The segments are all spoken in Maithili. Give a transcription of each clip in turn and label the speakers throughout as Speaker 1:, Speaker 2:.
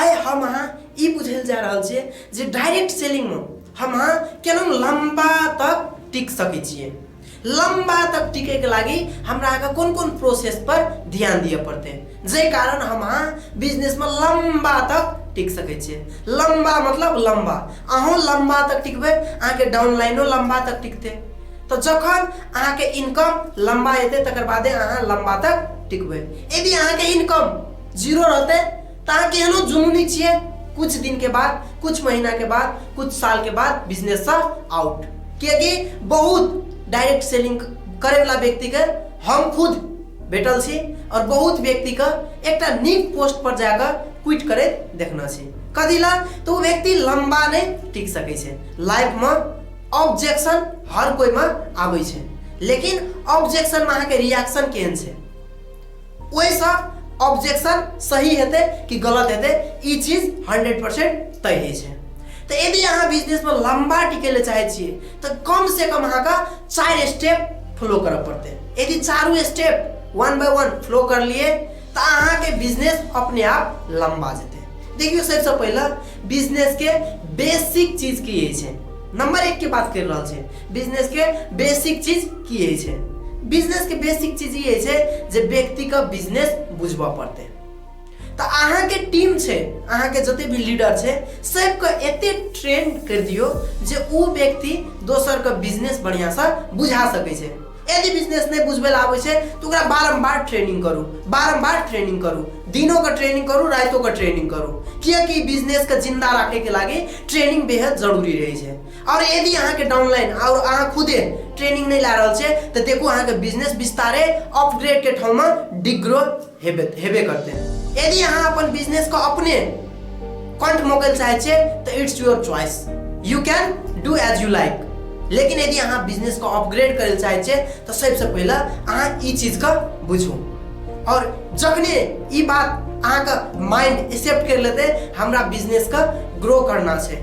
Speaker 1: आइ हम अहाँ ई बुझै लए जा रहल छियै जे डायरेक्ट सेलिंगमे हम अहाँ केना लम्बा तक टिक सकै छियै लम्बा तक टिकैके लागि हमरा अहाँके कोन कोन प्रोसेस पर ध्यान दिअ पड़तै जाहि कारण हम अहाँ बिजनेसमे लम्बा तक टिक सकै छियै लम्बा मतलब लम्बा अहूँ लम्बा तक टिकबै अहाँके डाउनलाइनो लम्बा तक टिकतै तऽ जखन अहाँके इनकम लम्बा एतै तकर बादे अहाँ लम्बा तक टिकबै यदि अहाँके इनकम जीरो रहते ताकि के एहनो जुनूनी छिए कुछ दिन के बाद कुछ महीना के बाद कुछ साल के बाद बिजनेस से आउट कियकि बहुत डायरेक्ट सेलिंग करे वाला व्यक्ति के हम खुद भेटल छी और बहुत व्यक्ति के एक नीक पोस्ट पर जाकर क्विट करे देखना छी कथी ला तो वो व्यक्ति लंबा नहीं टिक सके छे लाइफ में ऑब्जेक्शन हर कोई में आवे छे लेकिन ऑब्जेक्शन में अहाँ के रिएक्शन केहन छे ओहिसँ ऑब्जेक्शन सही हेतै कि गलत हेतै ई चीज हंड्रेड परसेंट तय होइ छै तऽ यदि अहाँ बिजनेसमे लम्बा टिकै लए चाहै छियै तऽ कमसँ कम अहाँके चारि स्टेप फॉलो करऽ पड़तै यदि चारू step one by one follow करलियै तऽ अहाँके बिजनेस अपने आप लम्बा जेतै देखियौ सबसँ पहिले बिजनेसके बेसिक चीज की होइ छै नंबर एक के बात कर रहा है बिजनेस के बेसिक चीज की होइ छै बिजनेस के बेसिक चीज ई होइ छै जे व्यक्ति के बिजनेस बुझबऽ पड़तै तऽ अहाँके टीम छै अहाँके जते भी लीडर छै सबके एते ट्रेन कर दियो जे ओ व्यक्ति दोसर के बिजनेस बढ़िया से बुझा सके छै यदि बिजनेस नहीं बुझबे आबे छै तो ओकरा बारम्बार ट्रेनिंग करू बारम्बार ट्रेनिंग करू दिनों का ट्रेनिंग करू रातों का ट्रेनिंग करू किया कि बिजनेस के जिंदा रखे के लागे ट्रेनिंग बेहद जरूरी रहे छै और यदि अहाँ के डाउनलाइन और अहाँ खुदे ट्रेनिंग नहीं ला रहल छे तो देखो अहाँ के बिजनेस विस्तारे अपग्रेड के ठाव में डिग्रो हेबे हेबे करते यदि अहाँ अपन बिजनेस को अपने कंठ मोकल चाहे छे तो it's your choice you can do as you like लेकिन यदि अहाँ बिजनेस को अपग्रेड करे चाहे छे तो सबसे पहले अहाँ ई चीज का बुझू और जखने ई बात अहाँ का माइंड एक्सेप्ट कर लेते हमरा बिजनेस का ग्रो करना छे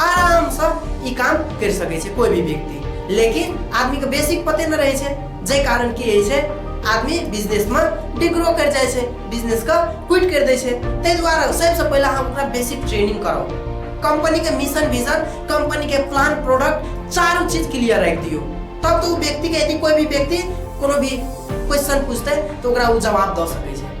Speaker 1: आरामसँ ई काम करि सकै छै कोइ भी व्यक्ति लेकिन आदमीके बेसिक पते नहि रहै छै जाहि कारण की होइ छै आदमी बिजनेसमे डिग्रो करि जाइ छै बिजनेसके क्विट करि दै छै ताहि दुआरे सबसँ पहिले अहाँ ओकरा बेसिक ट्रेनिंग कराउ कंपनीके मिशन विजन कंपनीके प्लान प्रोडक्ट चारू चीज क्लियर राखि दियौ तब तऽ ओ व्यक्तिके यदि कोइ भी व्यक्ति कोनो भी क्वेश्चन पूछतै तऽ ओकरा ओ जवाब दऽ सकै छै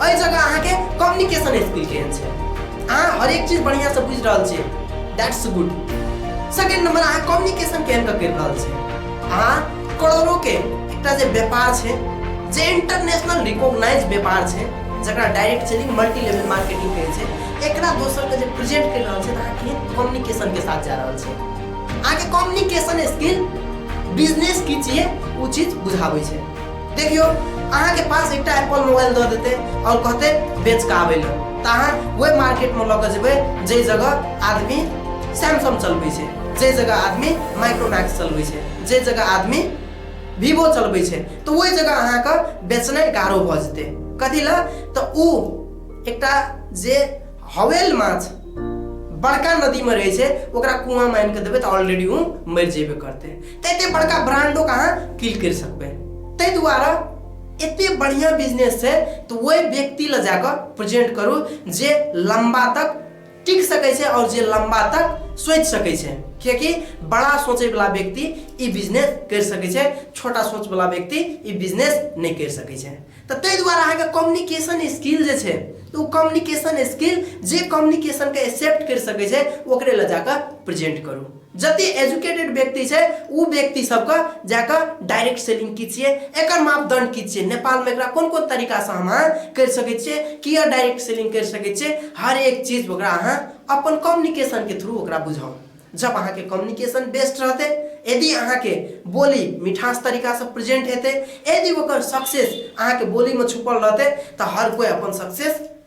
Speaker 1: एहि जगह अहाँके कम्युनिकेशन स्किल केहन छै अहाँ हरेक चीज बढ़िआँसँ बुझि रहल छियै दैट्स गुड सेकेंड नंबर अहाँ कम्युनिकेशन केहन कऽ करि रहल छियै अहाँ करोड़ोके एकटा जे व्यापार छै जे इंटरनेशनल रिकॉग्नाइज व्यापार छै जकरा direct selling multi level marketing कहै छै एकरा दोसरके जे प्रेजेंट करि रहल छै तऽ अहाँ केहन कम्युनिकेशनके साथ जा रहल छै अहाँके कम्युनिकेशन स्किल बिजनेस की छियै ओ चीज बुझाबै छै देखियो अहाँ के पास एकटा एप्पल मोबाइल दऽ देते और कहते बेच के आबे लए तऽ अहाँ वही मार्केट में लऽ कऽ जेबै जाहि जगह आदमी सैमसंग चलबै छै जाहि जगह आदमी माइक्रोमैक्स चलबै छै जाहि जगह आदमी वीवो चलबै छै तऽ ओहि जगह अहाँके बेचनाइ गारो भऽ जेतै कथी लए तऽ ओ एकटा जे हवेल माछ बड़का नदीमे रहै छै ओकरा कुआँ मानि कऽ देबै तऽ ऑलरेडी ओ मरि जेबे करतै तैते बड़का ब्रांडो कहाँ किल कर सकबे तै द्वारा एते बढ़िया बिजनेस है तो वही व्यक्ति ल जाकर प्रेजेंट करू जे लंबा तक टिक सके छै और जे लंबा तक सोच सके छै कियाकि बड़ा सोचे वाला व्यक्ति ई बिजनेस कर सके छै छोटा सोच वाला व्यक्ति ई बिजनेस नहीं कर सके छै तो तै द्वारा अहाँ के कम्युनिकेशन स्किल जे छै तो वो कम्युनिकेशन स्किल जे कम्युनिकेशन के एक्सेप्ट कर सके छै ओकरे ल जाकर प्रेजेंट करू जति एजुकेटेड व्यक्ति छै ऊ व्यक्ति सबके जाके डायरेक्ट सेलिंग की छियै एकर मापदंड की छियै नेपाल में एकरा कोन कोन तरीका से हम अहाँ कर सके छियै किया डायरेक्ट सेलिंग कर सके छियै हर एक चीज ओकरा अहाँ अपन कम्युनिकेशन के थ्रू ओकरा बुझाओ जब अहाँ के कम्युनिकेशन बेस्ट रहते यदि अहाँ के बोली मिठास तरीका से प्रेजेंट हेते यदि ओकर सक्सेस अहाँ के बोली में छुपल रहते तो हर कोई अपन सक्सेस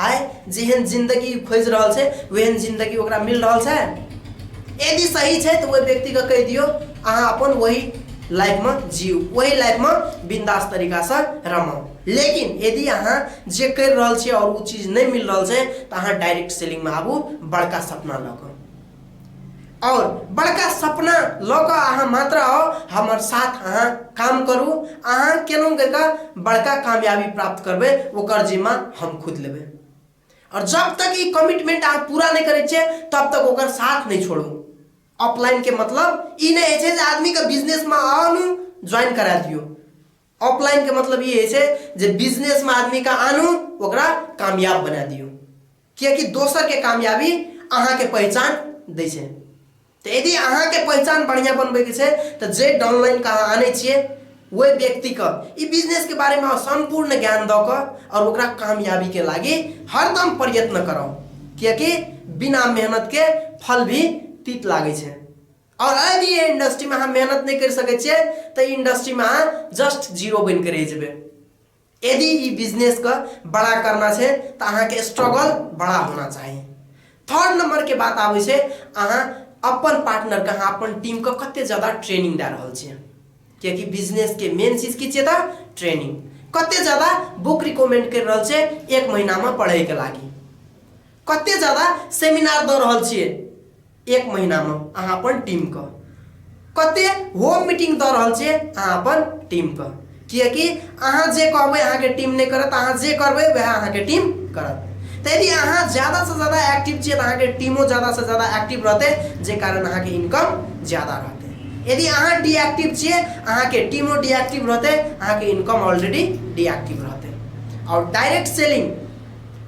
Speaker 1: आए जेहन जिंदगी खोज रहल छै ओहन जिंदगी ओकरा मिल रहल छै यदि सही छै तो वह व्यक्ति का कह दियो अहाँ अपन वही लाइफ में जीव वही लाइफ में बिंदास तरीका से रमो लेकिन यदि अहाँ जे कर रहा है और वो चीज नहीं मिल रहा है तो अहाँ डायरेक्ट सेलिंग में आबू बड़का सपना लग और बड़का सपना लऽ कऽ अहाँ मात्र आउ हमर साथ अहाँ काम करू अहाँ केलहुँ कऽ बड़का कामयाबी प्राप्त करबै ओकर जिम्मा हम खुद लेबै और जब तक ई कमिटमेंट अहाँ पूरा नहि करै छियै तब तक ओकर साथ नहि छोड़ू ऑफलाइन के मतलब ई नहि होइ छै जे आदमीके बिजनेसमे आउ ज्वाइन करा दियौ ऑफलाइन के मतलब ई होइ छै जे बिजनेस में आदमी के आनू ओकरा कामयाब बना दियौ किएकि दोसर के कामयाबी अहाँ के पहचान दै छै तऽ यदि अहाँ के पहचान बढ़िया बनबै के छै तऽ जे डाउनलाइन के अहाँ आनै छियै ओहि व्यक्ति के ई बिजनेस के बारे में संपूर्ण ज्ञान दऽ कऽ और ओकरा कामयाबी के लागी हरदम प्रयत्न करब किएकि बिना मेहनत के फल भी तीत लागै छै और अगर ये इंडस्ट्री में हम मेहनत नहीं कर सके छे तो इंडस्ट्री में जस्ट जीरो बन के रह जेबे यदि ये बिजनेस का बड़ा करना छे तो अहाँ के स्ट्रगल बड़ा होना चाहिए थर्ड नंबर के बात आवे छे अहाँ अपन पार्टनर का अहाँ अपन टीम का कते ज्यादा ट्रेनिंग दे रहल छे क्योंकि बिजनेस के मेन चीज की छे ता ट्रेनिंग कते ज्यादा बुक रिकमेंड कर रहल छे एक महीना में पढ़े के लागी कते ज्यादा सेमिनार दे रहल छे एक महीनामे अहाँ अपन टीमके कतेक होम मीटिंग दऽ रहल छियै अहाँ अपन टीमके किएकि अहाँ जे कहबै अहाँके टीम नहि करत अहाँ जे करबै वएह अहाँके टीम करत तऽ यदि अहाँ ज्यादासँ ज्यादा एक्टिव छियै तऽ अहाँके टीमो ज्यादासँ ज्यादा एक्टिव रहतै जे कारण अहाँके इनकम ज्यादा रहतै यदि अहाँ डिएक्टिव छियै अहाँके टीमो डिएक्टिव रहतै अहाँके इनकम ऑलरेडी डिएक्टिव रहतै आओर डायरेक्ट सेलिंग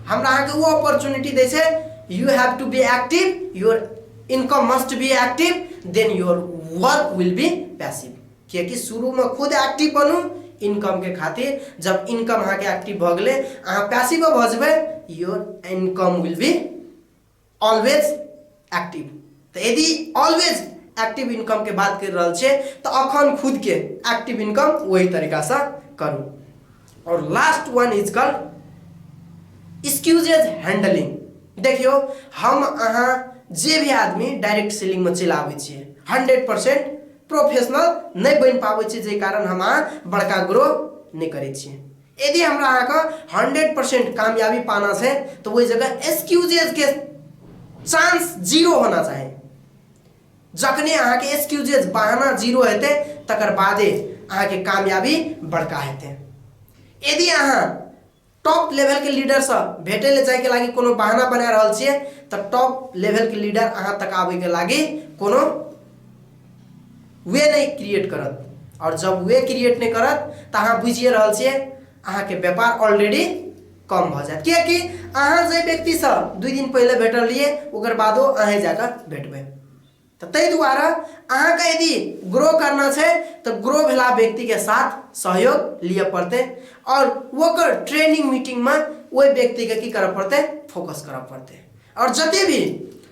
Speaker 1: हमरा अहाँके ओ अपॉर्चुनिटी दै छै you have to be active your income must be active then your work will be passive किएकि शुरूमे खुद एक्टिव बनू इनकमके खातिर जब इनकम अहाँके एक्टिव भऽ गेलै अहाँ पैसिवो भऽ जेबै your income will be always active तो यदि ऑलवेज एक्टिव इनकम के बात कर रहा छे तो अखन खुद के एक्टिव इनकम वही तरीका से करू और last one is call excuses handling देखियो हम अहाँ जे भी आदमी डायरेक्ट सेलिंग में चल आबे छे हंड्रेड परसेंट प्रोफेशनल नहीं बन पाबे छे जे कारण हम बड़का ग्रो नहीं करे छे यदि हमरा अहाँ का हंड्रेड परसेंट कामयाबी पाना से तो वही जगह एक्सक्यूजेज के चांस जीरो होना चाहिए जखने अहाँ के एक्सक्यूजेज बहाना जीरो हेते तकर बादे अहाँ के कामयाबी बड़का हेते यदि अहाँ टॉप लेवल के लीडर से भेटे ले जाए के लागी कोनो बहाना बना रहल छिए तो टॉप लेवल के लीडर अहाँ तक आवे के लागी कोनो वे नहीं क्रिएट करत और जब वे क्रिएट नहीं करत तो अहाँ बुझिए रहल छे अहाँ के व्यापार ऑलरेडी कम भ जात कियाकि अहाँ जे व्यक्ति से दू दिन पहले भेटल रहिए ओकर बादो अहाँ जाकर भेटबे तो तै दुआरे अहाँ के यदि ग्रो करना छे तो ग्रो भेला व्यक्ति के साथ सहयोग लिए पड़ते और वोकर ट्रेनिंग मीटिंग में वही व्यक्ति के की करऽ पड़ते फोकस करऽ पड़ते और जते भी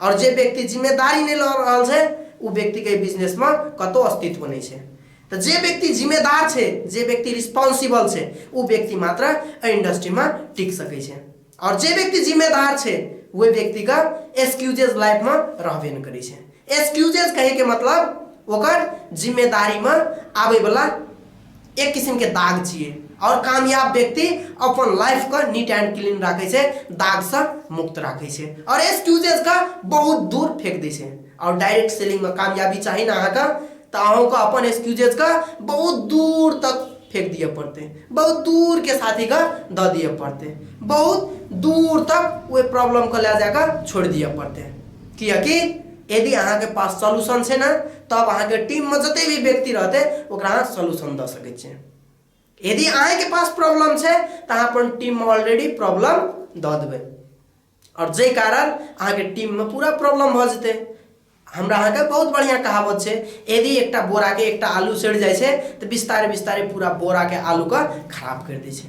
Speaker 1: आओर जे व्यक्ति जिम्मेदारी नहि लऽ रहल छै ओ व्यक्तिके एहि बिजनेसमे कतहु अस्तित्व नहि छै तऽ जे व्यक्ति जिम्मेदार छै जे व्यक्ति रिस्पॉन्सिबल छै ओ व्यक्ति मात्र एहि इंडस्ट्रीमे टिक सकै छै आओर जे व्यक्ति जिम्मेदार छै ओहि व्यक्तिके एक्सक्यूजेज लाइफमे रहबे नहि करै छै एक्सक्यूजेज कहैके मतलब ओकर जिम्मेदारीमे आबैवला एक किसिम के दाग छियै और कामयाब व्यक्ति अपन लाइफ के नीट एंड क्लीन राखे छै दाग से मुक्त राखे छै और एक्सक्यूजेस के बहुत दूर फेंक दे छै और डायरेक्ट सेलिंग में कामयाबी चाहिए ना अहाँके तऽ अहूँके अपन एक्सक्यूजेस के बहुत दूर तक फेंक दिए पड़ते बहुत दूर के साथी के द दिए पड़ते बहुत दूर तक वो प्रॉब्लम को ले जाकर छोड़ दिए पड़ते किया कि यदि अहाँके पास सोल्यूशन छै ने तब अहाँके टीममे जते भी व्यक्ति रहतै ओकरा अहाँ सोल्यूशन दऽ सकै छियै यदि अहाँके पास प्रॉब्लम छै तऽ अहाँ अपन टीममे ऑलरेडी प्रॉब्लम दऽ देबै आओर जाहि कारण अहाँके टीममे पूरा प्रॉब्लम भऽ जेतै हमरा अहाँके बहुत बढ़िया कहावत छै यदि एकटा बोराके एकटा आलू सड़ि जाइ छै तऽ बिस्तारे बिस्तारे पूरा बोराके आलूके खराब करि दै छै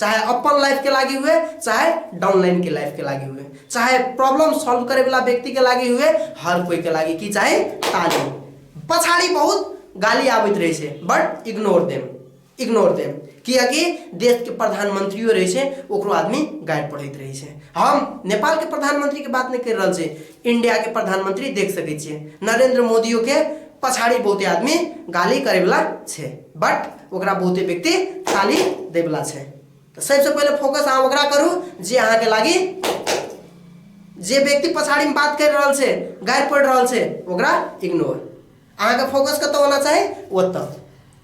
Speaker 1: चाहे अपन लाइफ के लागी हुए चाहे डाउनलाइन के लाइफ के लागी हुए चाहे प्रॉब्लम सॉल्व करे वाला व्यक्ति के लागी हुए हर कोई के लागी की चाहे तालीम पछाड़ी बहुत गाली आबित रहे से but ignore them ignore them कियाकि देश के प्रधानमंत्रियों रहे से ओकरो आदमी गाइड पढ़ित रहे से हम नेपाल के प्रधानमंत्री के बात नहीं कर रहा से इंडिया के प्रधानमंत्री देख सके छे नरेंद्र मोदियों के पछाड़ी बहुते आदमी गाली करे वाला छे बट ओकरा बहुते व्यक्ति ताली दे वाला छे तो सबसे पहले फोकस अहाँ ओकरा करू जे अहाँ के लागी जे व्यक्ति पछाड़ी में बात कर रहा छे गार पड़ रहा छे ओकरा इग्नोर अहाँके फोकस कतऽ होना चाही ओतऽ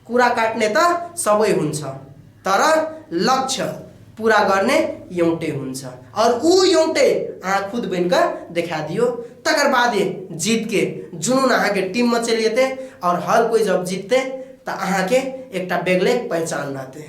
Speaker 1: कुरा काट्ने त सबै हुन्छ तर लक्ष्य पुरा गर्ने एउटै हुन्छ अरू ऊ एउटै अहाँ खुद बनिकऽ देखा दियो तकर बादे जीतके जुनून अहाँके टिममे चलि जेतै आओर हर कोइ जब जीततै तऽ अहाँके एकटा बेगले पहिचान रहतै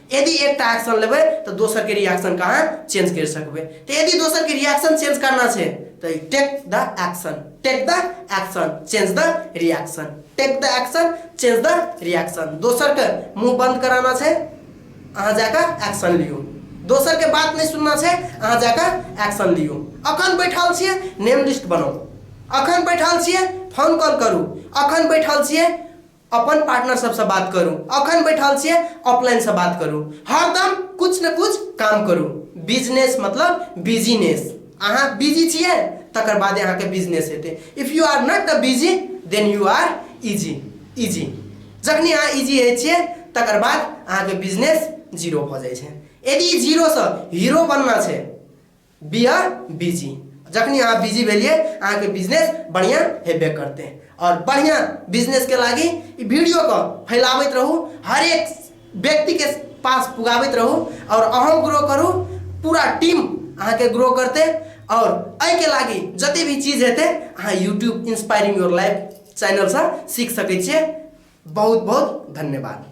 Speaker 1: यदि एकटा एक्शन लेबै तऽ दोसरके रिएक्शन कहाँ अहाँ चेंज करि सकबै तऽ यदि दोसरके रिएक्शन चेंज करना छै तऽ take the action take the action change the reaction take the action change the reaction दोसरके मुँह बंद कराना छै अहाँ जाकऽ एक्शन लियौ दोसरके बात नहि सुनना छै अहाँ जाकऽ एक्शन लियौ अखन बैठल छियै नेम लिस्ट बनाउ अखन बैठल छियै फोन कॉल करू अखन बैठल छियै अपन पार्टनर सबसँ बात करू अखन बैठल छियै ऑफलाइनसँ बात करू हरदम कुछ ने कुछ काम करू बिजनेस मतलब बिजनेस अहाँ बिजी छियै तकर बादे अहाँके बिजनेस हेतै if you are not the busy then you are easy easy जखनी अहाँ इजी होइ छियै तकर बाद अहाँके बिजनेस जीरो भऽ जाइ छै यदि जीरोसँ हीरो बनना छै बी आर बिजी जखनी अहाँ बिजी भेलिए अहाँके बिजनेस बढ़िया हेबे करते और बढ़िया बिजनेस के लागी ई वीडियो को फैलावत रहू हर एक व्यक्ति के पास पुगावत रहू और अहम ग्रो करू पूरा टीम अहाँके ग्रो करते और एहि के लागी जते भी चीज हेते अहाँ YouTube inspiring your life channel से सीख सकै छियै बहुत बहुत धन्यवाद